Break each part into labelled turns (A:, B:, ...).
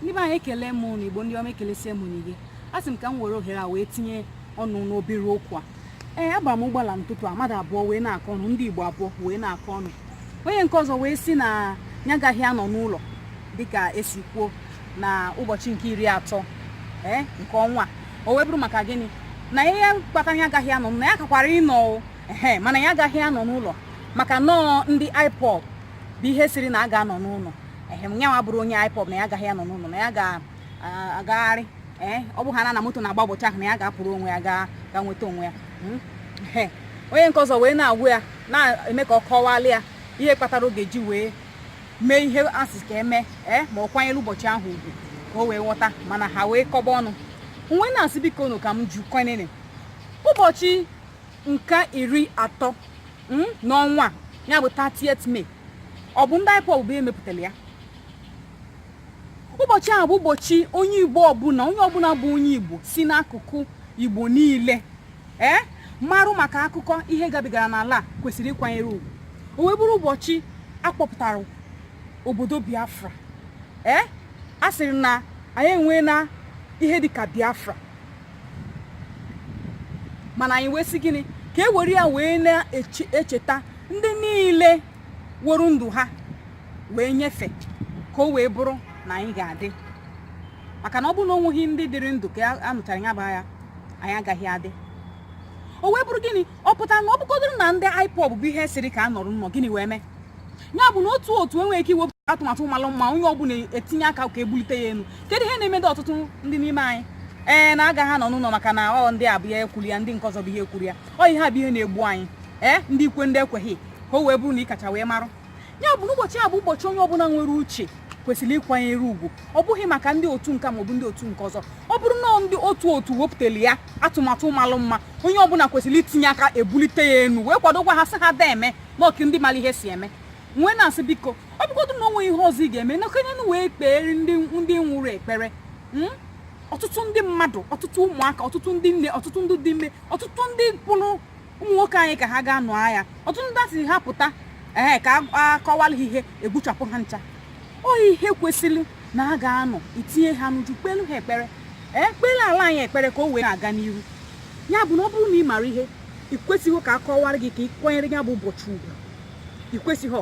A: ndị be anyị ekele m ụnụ igbo ndị ọma ekelesie m ụnụ ike a sị m ka m were ohere a wee tinye ọnụ n'obere okwu a ee agbara m ụgbọala n'ụtụtụ a mmadụ abụọ wee na-akọ ọnụ ndị igbo abụọ wee na-akọ ọnụ onye nke ọzọ wee sị na ya agaghị anọ n'ụlọ dịka esi kwuo na ụbọchị nke iri atọ ee nke ọnwa o wee bụrụ maka gịnị na ihe kpata ya agaghị anọ na ya kakwara ịnọ ehe mana ya agaghị anọ n'ụlọ maka na ọ ndị IPOB bụ ihe sịrị na a ga-anọ n'ụlọ ehe na yanwa abụrọ onye IPOB na ya agaghị anọ n'ụlọ na ya ga-agagharị ee ọ bụ ha na na moto na-agba ụbọchị ahụ na ya ga-apụrụ onwe ya ga nweta onwe ya hmm? onye nke ọzọ wee na-agwa ya na-eme ka ọ kọwalị ya ihe kpatara ọ ga-eji wee mee ihe asị ka eme ee ma ọ kwanyere ụbọchị ahụ ugwu ka o wee ghọta mana ha wee kọba ọnụ m wee na-asị bikonụ ka m jụkwenene ụbọchị nke iri atọ hmm, n'ọnwa ya bụ 30th May ọ bụ ndị IPOB bụ ihe mepụtara ya ụbọchị ahụ bụ ụbọchị onye Igbo ọbụla onye ọbụla bụ onye Igbo si n'akụkụ Igbo niile ee eh, marụ maka akụkọ ihe gabigara n'ala kwesịrị ịkwanyere ugwu o wee bụrụ ụbọchị akpọpụtara obodo Biafra ee eh, a sịrị na anyị enweena ihe dịka Biafra mana anyị wee sị gịnị ka e were ya wee na-echeta ndị niile were ndụ ha wee nyefe ka o wee bụrụ na anyị ga-adị maka na ọ bụrụ na onweghị ndị dịrị ndụ ka a nụchara ya bụ agha anyị agaghị adị o wee bụrụ gịnị ọ pụtara na ọ bụgodoro na ndị IPOB bụ ihe sịrị ka a nọrọ n'ụnọ gịnị wee mee ya bụ na otu otu enweghị ike iwepụta atụmatụ malụ mma onye ọbụla etinye aka ka ebulite ya elu kedu ihe na-emedo ọtụtụ ndị n'ime anyị ee na agaghị anọ n'ụlọ maka na ọ ndị a bụ ihe kwuru ya ndị nke ọzọ bụ ihe kwuru ya ọ ihe a bụ ihe na-egbu anyị ee ndị kwe ndị ekweghị ka o wee bụrụ na ị kacha wee marụ ya bụ na ụbọchị a bụ ụbọchị onye ọbụla nwere uche kwesịrị ịkwanyere ugwu ọ bụghị maka ndị otu nke a maọbụ ndị otu nke ọzọ ọ bụrụ na ndị otu otu wepụtara ya atụmatụ malụ mma onye ọbụla kwesịrị itinye aka ebulite ya enu wee kwadokwa ha sị ha deeme na ọ ka ndị mara ihe si eme m wee na-asị biko ọ bụgodu na onwe ihe ọzọ ị ga-eme nọkenenụ wee kpeere ndị ndị nwụrụ ekpere mm? ọtụtụ ndị mmadụ ọtụtụ ụmụaka ọtụtụ ndị nne ọtụtụ ndị dị ime ọtụtụ ndị a kpụrụ ụmụ nwoke anyị ka ha gaa nụọ agha ọtụtụ ndị asị ha pụta ee ka akọwala ha ihe egbuchapụ ha ncha ọ ihe kwesịrị na a ga-anọ itinye ha n'uju kpelu ha ekpere ee kpere ala anyị ekpere ka o wee na-aga n'iru ya bụ na ọ bụrụ na ị mara ihe ị kwesịghị ka a kọwara gị ka ị kwanyere ya bụ ụbọchị ugwu ị kwesịghị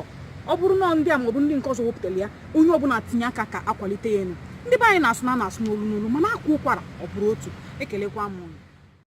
A: ọ bụrụ na ọ ndị a maọbụ ndị nke ọzọ wepụtara ya onye ọbụla tinye aka ka akwalite ya enu ndị be anyị na-asị na a na-asụ n'olu n'olu mana akwaa ụkwara ọ bụrụ otu ekelekwa m